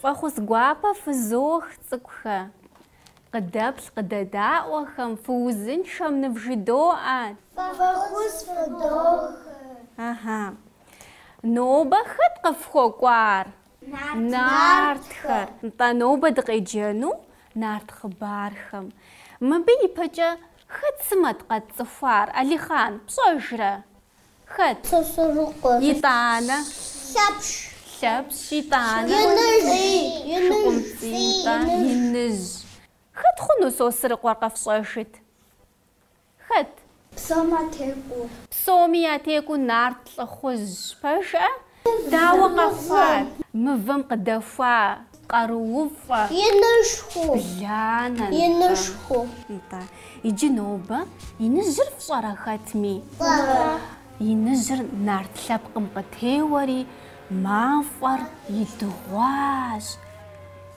Фӏэхъус гуапэ фызох, цӏыкӏухэ! Къыдэплъ къыдэдаӏуэхэм, фыузыншэм нывжыдоӏэ! Фӏэхъус фыдох! Ага. Нобэ хэт къыфхуэкӏуар? Нартхэр. Нтӏэ, нобэ дыкъеджэну нарт хъыбархэм. Мыбы ипэкӏэ хэт сымэт къэтцӏыхуар, Алихъан, пщӏэжрэ? Хэт? Сосрыкъуэ. Итӏанэ? Лъэпщ. Лъэпщ, итӏанэ? Иныжь. Шыкъумцӏий, итӏанэ? Иныжь. Хэт хъуну Сосрыкъуэр къэфщӏэжыт? Хэт? Псоми ятекӏуэ. Псоми ятекӏуэ нарт лӏыхъужьщ. Пэжкъэ? Дауэ къэхъуат? Мывэм къыдэхуа къарууфӏэ. Инышхуэ. Бланэ. Инышхуэ. Нтӏэ. Иджы нобэ иныжьыр фщӏэрэ хэтми? Фщӏэрэ. Иныжьыр нарт лъэпкъым къытеуэри, мафӏэр идыгъуащ.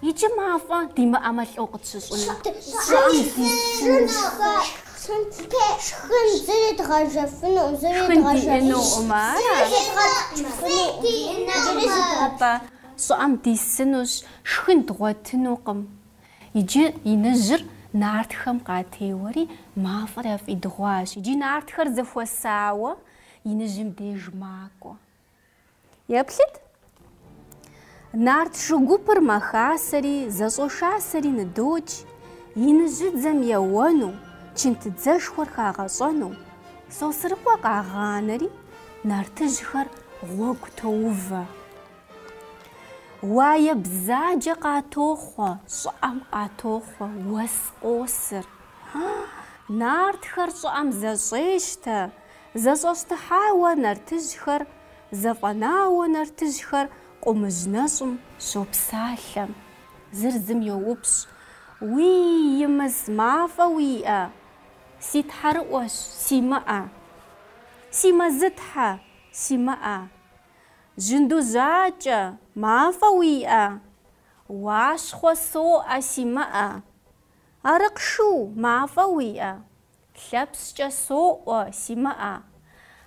Иджы мафӏэ димыӏэмэ лӏо къытщыщӏыну. Щӏыӏэм дишхынщ. Шхын зыри дгъэжьэфынукъым, зыри дгъэжьэфынукъым. Атӏэ, щӏыӏэм дисынущ, шхын дгъуэтынукъым. Иджы иныжьыр нартхэм къатеуэри, мафӏэр яфӏидыгъуащ. Иджы нартхэр зэхуэсауэ, иныжьым деж макӏуэ. Еплъыт! Нарт шу гупыр мэхасэри, зэщӏошасэри ныдокӏ, иныжьыдзэм еуэну, чынтыдзэшхуэр хагъэщӏэну. Сосрыкъуэ къагъанэри, нартыжьхэр гъуэгу тоувэ. Уае бзаджэ къатохъуэ, щӏыӏэм къатохъуэ уэс къосыр. Нартхэр щӏыӏэм зэщӏещтэ, Зэщӏэщтыхьауэ нартыжьхэр, зэфӏэнауэ нартыжьхэр къумыжь нэщӏым щопсалъэ. Зыр зым йоупщӏ, Уей, Имыс, мафӏэ уиӏэ? Си тхьэрыӏуэщ, симыӏэ. Си Мэзытхьэ, симыӏэ. Жьынду Жьакӏэ, мафӏэ уиӏэ? Уащхъуэ соӏуэ, симыӏэ. Арыкъшу, мафӏэ уиӏэ? Лъэпщкӏэ соӏуэ, симыӏэ.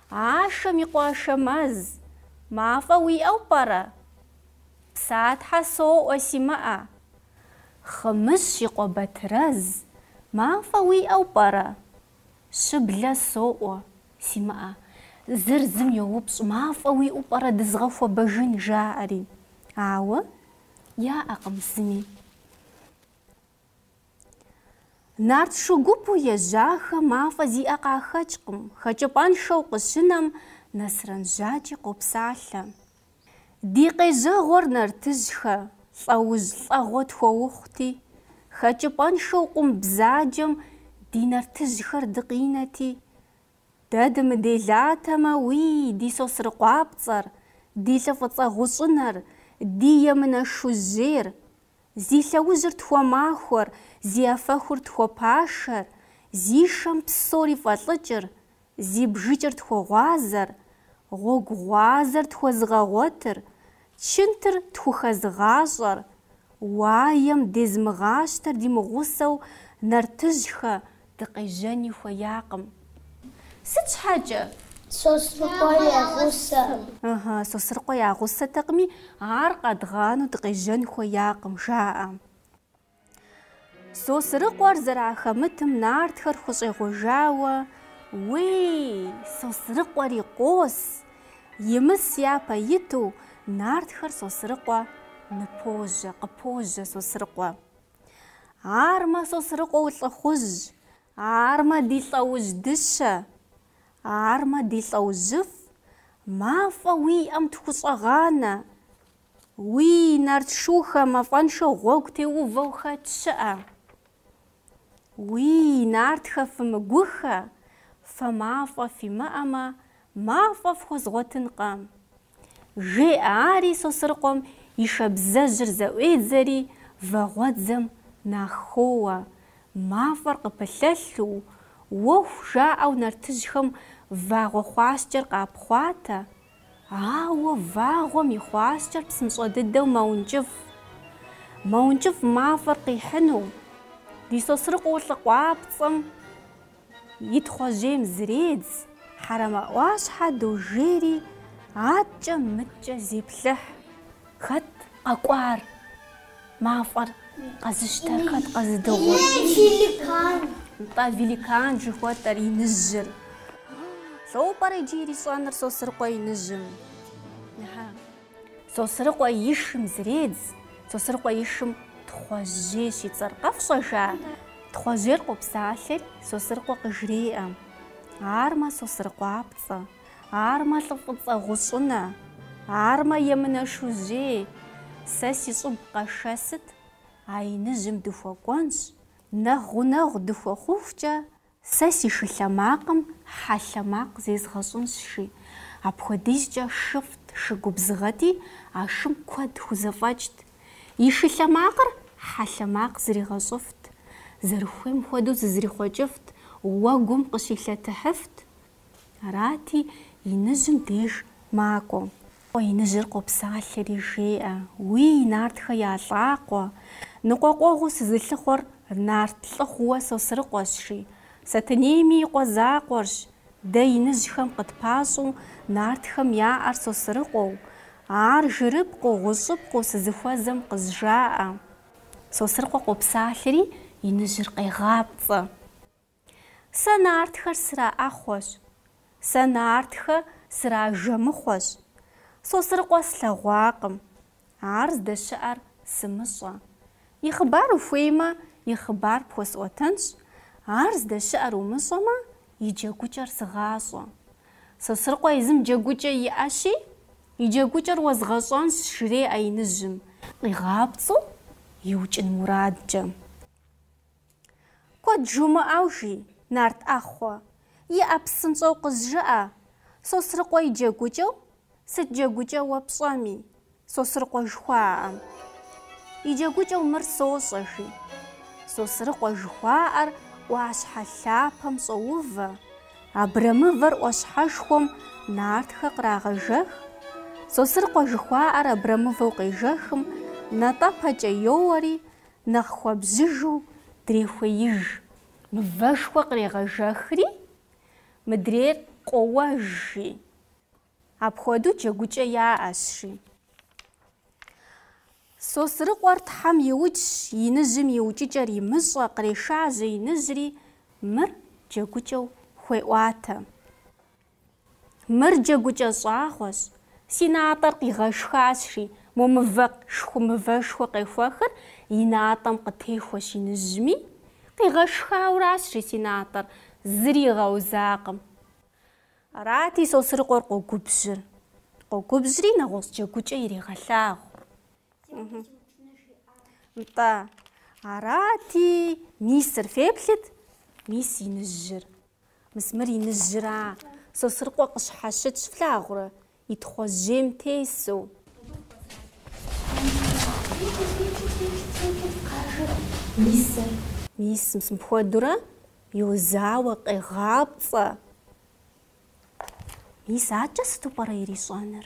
Ашэм и къуэ Ашэмэз. Мафӏэ уиӏэу пӏэрэ? Псатхьэ соӏуэ, симыӏэ. Хъымыщ и къуэ Батырэз. Мафӏэ уиӏэу пӏэрэ? Щыблэ соӏуэ, симыӏэ. Зыр зым йоупщӏ, Мафӏэ уиӏэу пӏэрэ дызгъэхуэбэжын? жаӏэри. Ауэ яӏэкъым зыми. Нарт шу гупу ежьахэм мафӏэ зиӏэ къахэкӏкъым, хэкӏыпӏэншэу къыщынэм Нэсрэн Жьакӏи къопсалъэ. Ди къежьэгъуэр нартыжьхэ, лӏэужь лӏэгъуэ тхуэхъути, хэкӏыпӏэншэу къум бзаджэм ди нартыжьхэр дыкъинэти, Дэ дымыделатэмэ, уий, ди Сосрыкъуапцӏэр, ди лӏы фӏыцӏэ гъущӏынэр, ди емынэ шужьейр, Зи лъэужьыр тхуэмахуэр, зи афэхур тхуэпашэр, зи шэм псори фӏэлӏыкӏыр, зи бжыкӏыр тхуэгъуазэр, гъуэгу гъуазэр тхуэзыгъэгъуэтыр, чынтыр тхухэзыгъащӏэр, уаем дезмыгъащтэр димыгъусэу нартыжьхэ, Дыкъежьэни хуеякъым. Сыт щхьэкӏэ? Сосрыкъуэ я гъусэкъым. Ыхьы, Сосрыкъуэ я гъусэтэкъыми, ар къэдгъанэу дыкъежьэн хуеякъым, жаӏэ. Сосрыкъуэр зэрахэмытым нартхэр хущӏегъуэжауэ, Уей, Сосрыкъуэри къос! Имыс япэ иту, нартхэр Сосрыкъуэ ныпожьэ, къыпожьэ Сосрыкъуэ. Армэ Сосрыкъуэу лӏыхъужь, армэ ди лӏэужь дыщэ, армэ ди лӏэужьыфӏ, мафӏэ уиӏэм тхущӏэгъанэ, уий нарт шухэ мафӏэншэу гъуэгу теувэу хэт щыӏэ. Уий нартхэ фымыгухэ, фэ мафӏэ фимыӏэмэ, мафӏэ фхуэзгъуэтынкъэ. жеӏэ ари Сосрыкъуэм и шабзэжьыр зэӏуедзэри вагъуэдзэм нахоуэ, мафӏэр къыпылъэлъу, уэху жаӏэу нартыжьхэм вагъуэ хъуаскӏэр къапхъуатэ, ауэ вагъуэм и хъуаскӏэр псынщӏэ дыдэу мэункӏыфӏ. Мэункӏыфӏ мафӏэр къихьыну, ди Сосрыкъуэ лӏыкъуапцӏэм, И тхъуэжьейм зредз, Хьэрэмэ ӏуащхьэ дожейри, аткӏэ мыткӏэ зеплъыхь. Хэт къэкӏуар? Мафӏэр къэзыщтэр хэт къэзыдыгъур? Великан. Нтӏэ, великан жыхуэтӏэр иныжьыр. Лӏо пӏэрэ иджы ирищӏэныр Сосрыкъуэ иныжьым? Сосрыкъуэ и шым зредз. Сосрыкъуэ и шым Тхъуэжьей щицӏэр къэфщӏэжа? Тхъуэжьейр къопсалъэри, Сосрыкъуэ къыжреӏэ, Армэ Сосрыкъуапцӏэ, армэ лӏы фӏыцӏэ гъущӏынэ, армэ емынэ шужьей, сэ си щӏыб къэшэсыт, а иныжьым дыхуэкӏуэнщ, нэхъ гъунэгъу дыхуэхъухукӏэ Сэ си шы лъэ макъым хьэ лъэ макъ зезгъэщӏынщ, жи. Апхуэдизкӏэ шыфӏт, шы губзыгъэти, а шым куэд хузэфӏэкӏт. И шы лъэ макъыр хьэ лъэ макъ зригъэщӏыфт. Зэрыхуейм хуэдэу зызэрихъуэкӏыфт, уэгум къыщилъэтыхьыфт. Арати, иныжьым деж макӏуэ. Иныжьыр къопсалъэри жеӏэ. Уи, нартхэ я лӏакъуэ! Ныкъуэкъуэгъуу сызылъыхъуэр нарт лӏыхъууэ Сосрыкъуэщ, жи, Сэтэнейми и къуэ закъуэрщ. Дэ иныжьхэм къытпащӏу нартхэм яӏэр Сосрыкъуэу, ар жырыпкъыу, гъущӏыпкъыу сызыхуэзэм къызжаӏэ. Сосрыкъуэ къопсалъэри, иныжьыр къегъапцӏэ. Сэ нартхэр сраӏэхъуэщ. Сэ нартхэ сражэмыхъуэщ. Сосрыкъуэ слъэгъуакъым. Ар здэщыӏэр сымыщӏэ. И хъыбар ухуеймэ, и хъыбар пхуэсӏуэтэнщ, ар здэщыӏэр умыщӏэмэ, и джэгукӏэр сыгъащӏэ. Сосрыкъуэ езым джэгукӏэ иӏэщи, и джэгукӏэр уэзгъэщӏэнщ, жреӏэ иныжьым, къигъапцӏэу иукӏын мурадкӏэ. Куэд жумыӏэу жи, нарт ӏэхъуэ, иӏэ, псынщӏэу къызжыӏэ, Сосрыкъуэ и джэгукӏэу, сыт джэгукӏэ уэ пщӏэми. Сосрыкъуэ жыхуаӏэм и джэгукӏэу мыр сощӏэ, жи. Сосрыкъуэ жыхуаӏэр ӏуащхьэ лъапэм щӏоувэ, абрэмывэр ӏуащхьэшхуэм нартхэ кърагъэжэх, Сосрыкъуэ жыхуаӏэр абрэмывэу къежэхым, натӏэпэкӏэ йоуэри, Нэхъ хуэбжьыжу дрехуеиж. Мывэшхуэ кърегъэжэхри, мыдрейр къоуэж, жи. Апхуэдэу джэгукӏэ яӏэщ, жи. Сосрыкъуэр Тхьэм иукӏщ, иныжьым и укӏыкӏэр имыщӏэ, кърешажьэ иныжьри, мыр джэгукӏэу хуеӏуатэ. Мыр джэгукӏэ щӏагъуэщ. Си натӏэр къигъэшхащри, мо мывэ шху-мывэшхуэ къехуэхыр и натӏэм къытехуэщ иныжьми, къигъэшхауращри си натӏэр, зыри игъэузакъым. Арати, Сосрыкъуэр къогубжьыр. Къогубжьри, нэгъуэщӏ джэгукӏэ ирегъэлъагъу. Нтӏэ. Арати, мисыр феплъыт, мис иныжьыр. Мис мыр иныжьыра, Сосрыкъуэ къыщхьэщытщ, флъагъурэ, и тхъуэжьейм тесу. Мисыр. Мис, мис мыпхуэдурэ йозауэ, къегъапцӏэ. Мис акӏэ сыту пӏэрэ ирищӏэныр?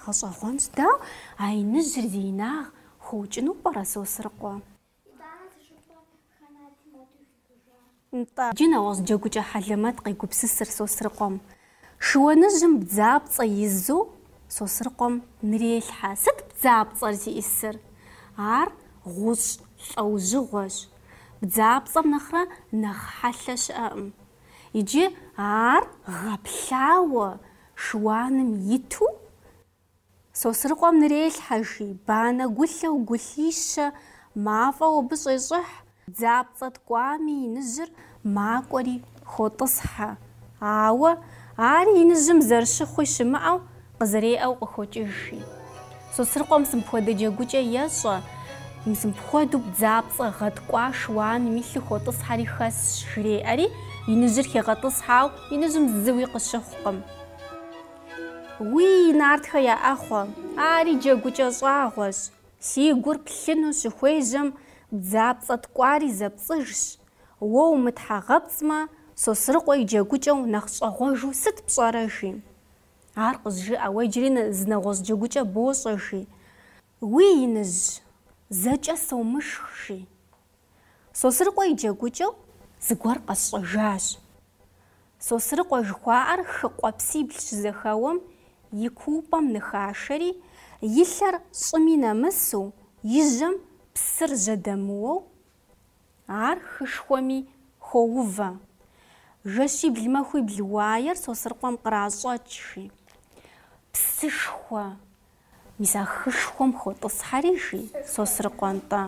Гъэщӏэгъуэнщ. Дауэ а иныжьыр зи инагъ хуукӏыну пӏэрэ, Сосрыкъуэ? Нтӏэ, иджы нэгъуэщӏ джэгукӏэ хьэлэмэт къегупсысыр Сосрыкъуэм. Шыуаныжьым бдзапцӏэ изу Сосрыкъуэм нырелъхьэ. Сыт бдзапцӏэр зиӏисыр? Ар гъущӏ лӏэужьыгъуэщ. Бдзапцӏэм нэхърэ нэхъ хьэлъэ щыӏэкъым. Иджы ар гъэплъауэ шыуаным иту Сосрыкъуэм нырелъхьэ, жи, банэ гулъэу гулъищэ мафӏэу абы щӏещӏыхь, бдзапцӏэ ткӏуами иныжьыр макӏуэри хотӏысхьэ. Ауэ, ари иныжьым зэрыщыхъуи щымыӏэу, къызэреӏэу къыхокӏыж, жи. Сосрыкъуэм мис мыпхуэдэ джэгукӏэ ещӏэ, мис мыпхуэдэу бдзапцӏэ гъэткӏуа шыуаным илъу хотӏысхьэри хэсщ, жреӏэри, иныжьыр хегъэтӏысхьэ, ауэ иныжьым зыуи къыщыхъукъым. Уий, нартхэ я ӏэхъуэ, ари джэгукӏэ щӏагъуэщ, си гур плъыну щыхуежьэм бдзапцӏэ ткӏуари зэпцӏыжщ. Уэ умытхьэгъэпцӏмэ, Сосрыкъуэ и джэгукӏэу нэхъ щӏэгъуэжу сыт пщӏэрэ? жи. Ар къызжыӏэ, уэ иджыри зы нэгъуэщӏ джэгукӏэ бощӏэ, жи. Уий, иныжь, зэкӏэ сомышх, жи. Сосрыкъуэ и джэгукӏэу зыгуэр къэсщӏэжащ. Сосрыкъуэ жыхуаӏэр хы къуэпсибл щызэхэуэм и куупӏэм ныхашэри, и лъэр щӏыми нэмысу, и жьэм псыр жьэдэмыуэу, ар хышхуэми хоувэ. Жэщибл-махуибл уаер Сосрыкъуэм къращӏэкӏ, жи, псышхуэ, Мис а хышхуэм хотӏысхьэри, жи Сосрыкъуэ-нтӏэ,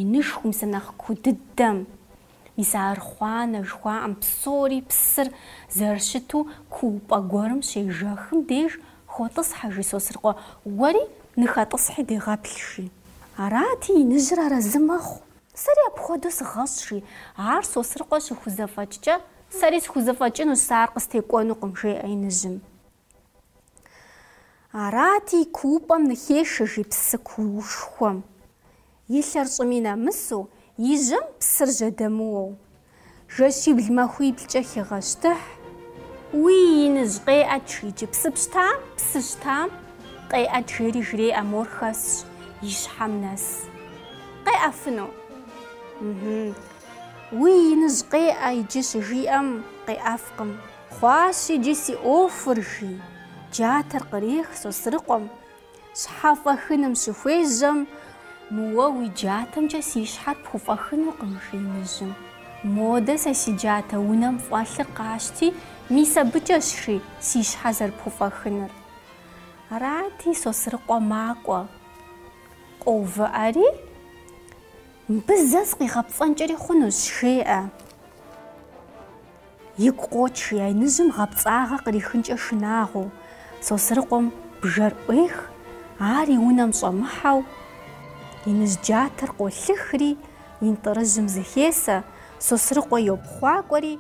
инышхуэу мис а нэхъ куу дыдэм, мис а архъуанэ жыхуаӏэм псори псыр зэрыщыту куупӏэ гуэрым щежэхым деж хотӏысхьэ, жи Сосрыкъуэ, уэри ныхэтӏысхьи дегъэплъ, жи. Арати, иныжьыр арэзы мэхъу. Сэри апхуэдэу сыгъэщӏ, жи. Ар Сосрыкъуэ щыхузэфӏэкӏкӏэ, сэри схузэфӏэкӏынущ, сэ ар къыстекӏуэнукъым, жеӏэ иныжьым. Арати, куупӏэм ныхешэ, жи, псы куушхуэм. И лъэр щӏыми нэмысу, и жьэм псыр жьэдэмыуэу. Жэщибл махуиблкӏэ хегъэщтыхь. Уи иныжь къеӏэт, жи, иджы, псы пщтам, псы щтам, къеӏэт жери жреӏэ, мор хэсщ, и щхьэм нэс. Къеӏэфыну? Мхм. Уи иныжь къеӏэ иджы щыжиӏэм, къеӏэфкъым. Хъуащ иджы си ӏуэхур, жи джатэр кърех Сосрыкъуэм. Щхьэфӏэхыным щыхуежьэм. Мыуэ уи джатэмкӏэ си щхьэр пхуфӏэхынукъым, жи иныжьым. Модэ сэ си джатэ унэм фӏэлъыр къащти, мис абыкӏэщ, жи, си щхьэ зэрыпхуфӏэхынур. Арати, Сосрыкъуэ макӏуэ. Къоувыӏэри, Мыбы зэ сыкъигъэпцӏэнкӏэри хъунущ, жеӏэ. Игу къокӏ, жи, а иныжьым гъэпцӏагъэ кърихынкӏэ шынагъуэу. Сосрыкъуэм бжэр ӏуех, ар и унэм щӏэмыхьэу, иныжь джатэр къолъыхри, интӏырыжьым зыхесэ, Сосрыкъуэ йопхъуакӏуэри,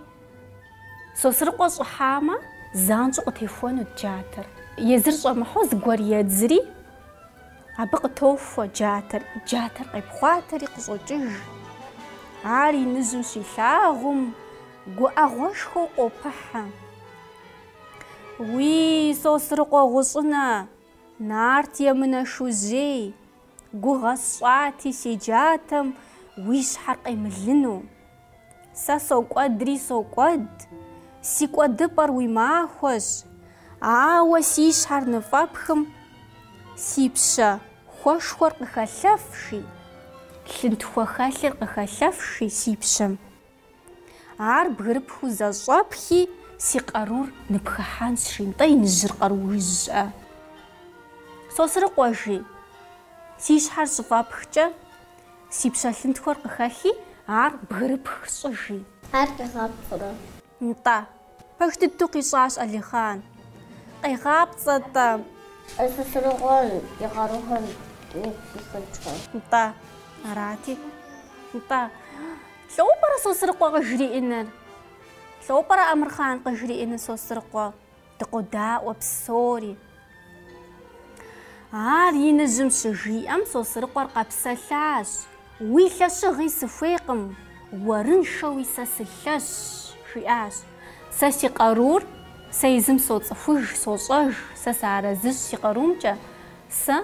Сосрыкъуэ щӏыхьамэ, занщӏэу къытехуэнут джатэр. Езыр щӏэмыхьэу зыгуэр едзри. Абы къытохуэ джатэр, джатэр къепхъуатэри къыщӏокӏыж. Ар иныжьым щилъагъум, гуӏэгъуэшхуэу къопыхьэ. Уи Сосрыкъуэ гъущӏынэ, Нарт емынэ шужьей, гугъэ сщӏати си джатэм уи щхьэр къемылыну. Сэ сокӏуэдри сокӏуэд, си кӏуэдыпӏэр уи махуэщ, ауэ си щхьэр ныфӏэпхым, си пщэ хуэшхуэр къыхэлъэфши, лъынтхуэ хэлъыр къыхэлъэфши си пщэм, ар бгырыпхыу зэщӏэпхи, си къарур ныпхыхьэнщ, жи, нтӏэ иныжьыр къаруущӏэ. Сосрыкъуэ жи, си щхьэр щыфӏэпхкӏэ, Си пщэ лъынтхуэр къыхэхи, ар бгырыпх щӏы, жи. Ар къигъапцӏэрэ? Нтӏэ. Пэж дыдэу къищӏащ Алихъан. Къегъапцӏэ-тӏэ? Нтӏэ. Сосрыкъуэм и къарухэр мис сыхъункӏэ? Нтӏэ. Арати. Нтӏэ. Лӏо пӏэрэ Сосрыкъуэ къыжриӏэныр? Лӏо пӏэрэ Амырхъан къыжриӏэныр Сосрыкъуэ? Дыкъодаӏуэ псори. Ар иныжьым щыжиӏэм Сосрыкъуэр къэпсэлъащ. Уи лъэщыгъи сыхуейкъым, уэрыншэуи сэ сылъэщ, жиӏащ. Сэ си къарур, сэ езым соцӏыхуж, сощӏэж, сэ сыарэзыщ си къарумкӏэ, сэ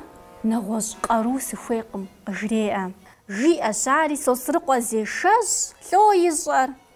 нэгъуэщӏ къару сыхуейкъым, къыжреӏэ. Жиӏэщ ари Сосрыкъуэ зешэщӏ лӏо ищӏэр,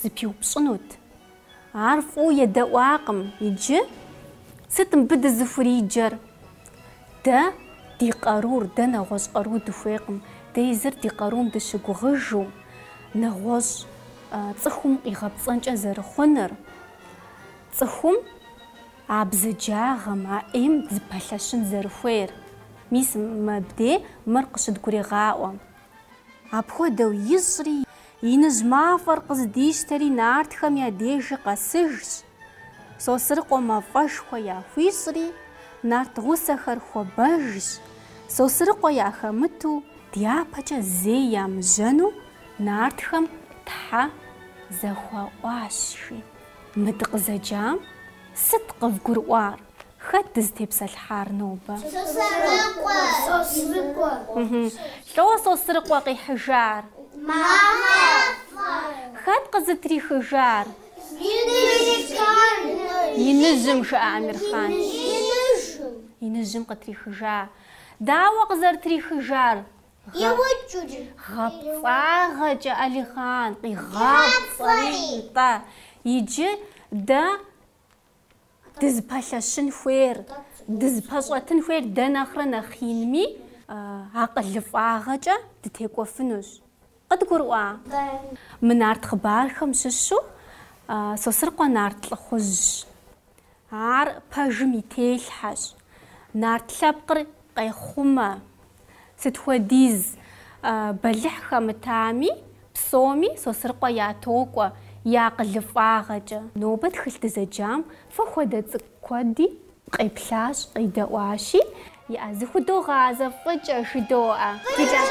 Зыпиупщӏынут. Ар фӏыуэ едэӏуакъым. Иджы? Сыт мыбы дызыхуриджэр? Дэ ди къарур, дэ нэгъуэщӏ къару дыхуейкъым. Дэ езыр ди къарум дыщыгугъыжу, нэгъуэщӏ цӏыхум къигъэпцӏэнкӏэ зэрыхъуныр, цӏыхум а бзаджагъэм, а ӏейм зыпэлъэщын зэрыхуейр. Мис мыбдей мыр къыщыдгурегъаӏуэ. Апхуэдэу ищӏри, Иныжь мафӏэр къыздищтэри нартхэм я дежи къэсыжщ. Сосрыкъуэ мафӏэшхуэ яхуищӏри, нарт гъусэхэр хуэбэжащ. Сосрыкъуэ яхэмыту, дяпэкӏэ зэи емыжьэну нартхэм Тхьэ зэхуаӏуащ, жи. Мы дыкъызэджам сыт къывгурыӏуар? Хэт дызытепсэлъхьар нобэ? Лӏо Сосрыкъуэ къихьыжар? Хэт къызытрихыжар? Иныжьым, жыӏэ Амирхъан. Иныжьым къытрихыжа. Дауэ къызэрытрихыжар? Гъэпцӏагъэкӏэ, Алихъан, къигъапцӏэри, нтӏэ. Иджы дэ. Дызыпэлъэщын хуейр, дызыпэщӏэтын хуейр дэ нэхърэ нэхъ инми, акъылыфӏагъэкӏэ дытекӏуэфынущ. Къыдгурыӏуа? Мы нарт хъыбархэм щыщу Сосрыкъуэ нарт лӏыхъужьщ. Ар пэжым и телъхьэщ. Нарт лъэпкъыр Къехъумэ, сыт хуэдиз бэлыхь хэмытами, псоми Сосрыкъуэ ятокӏуэ и акъылыфӏагъэкӏэ. Нобэ тхылъ дызэджам фэ хуэдэ цӏыкӏу куэди къеплъащ, къидэӏуащи, иӏэ, зыхудогъазэ фӏыкӏэ жыдоӏэ. Фи лъэщ.